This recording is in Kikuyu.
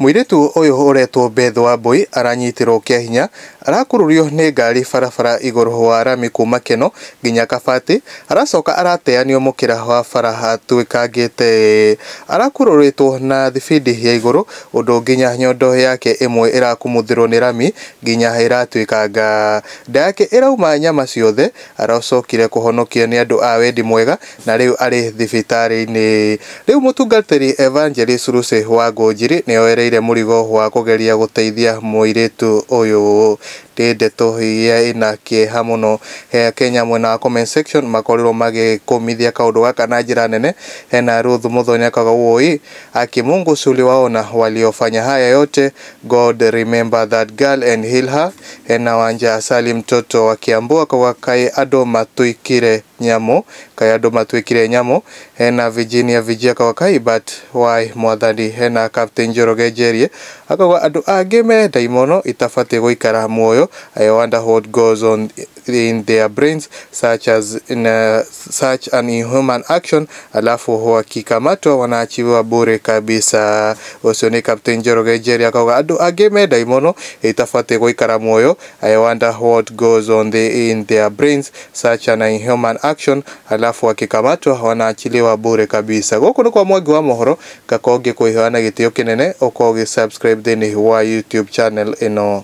Mũirĩtu ũyũ ũretwo Beth Wambũi aranyitirwo kĩa hinya arakururio nĩ ngari barabara igũrũ wa rami kuma Keno nginya Kabati aracoka arateanio mũkĩra wa bara atwĩkangĩte arakururĩtwo na thibindi ya igũrũ ũndũ nginya nyondo yake ĩmwe ĩrakumuthĩrwo nĩ rami nginya ĩratwĩkanga. Nda yake ĩrauma nyama ciothe aracokire kũhonokio nĩ andũ a wendi mwega na rĩu arĩ thibitarĩ-inĩ. Rĩu mũtungatĩri Evangelist Lucy Wangũnjiri nĩoereire mũrigo wa kũgeria gũteithia mũirĩtu ũyũ. Nĩ ndeto iria ina kĩeha mũno. Akenya mwena wa comment section makorirwo magĩkũmithia kaũndũ gaka na njĩra nene. Hena Ruth Muthonya Kagawoi aki Mungu si uliwaona waliofanya haya yote God remember that girl and heal her. Hena Wanjaa Salim mtoto wa Kiambu akauga kaĩ andũ matũikire Nyamũ, kaĩ andũ matwĩkire nyamũ, hena Virginia Vigi akauga kaĩ but why mwathani, hena Captain Njoroge Njerie akauga andũ angĩ me ndaimono itabatie gũikara muoyo, I wonder what goes on in their brains such as such an inhuman action alafu wakikamatwa wanaachiwa bure kabisa. Ũcio nĩ Captain Njoroge Njerie akauga andũ angĩ me ndaimono itabatie gũikara muoyo, I wonder what goes on in their brains Sacha na Inhuman Action alafu wakikamatwa wanaachiliwa bure kabisa. Gũkũ nĩ kwa Mwangi wa Mohoro, ngakorwo ngĩkũĩhoya na gĩtĩo kĩnene ũkorwo ũgĩ subscribe thĩinĩ wa YouTube channel ĩno.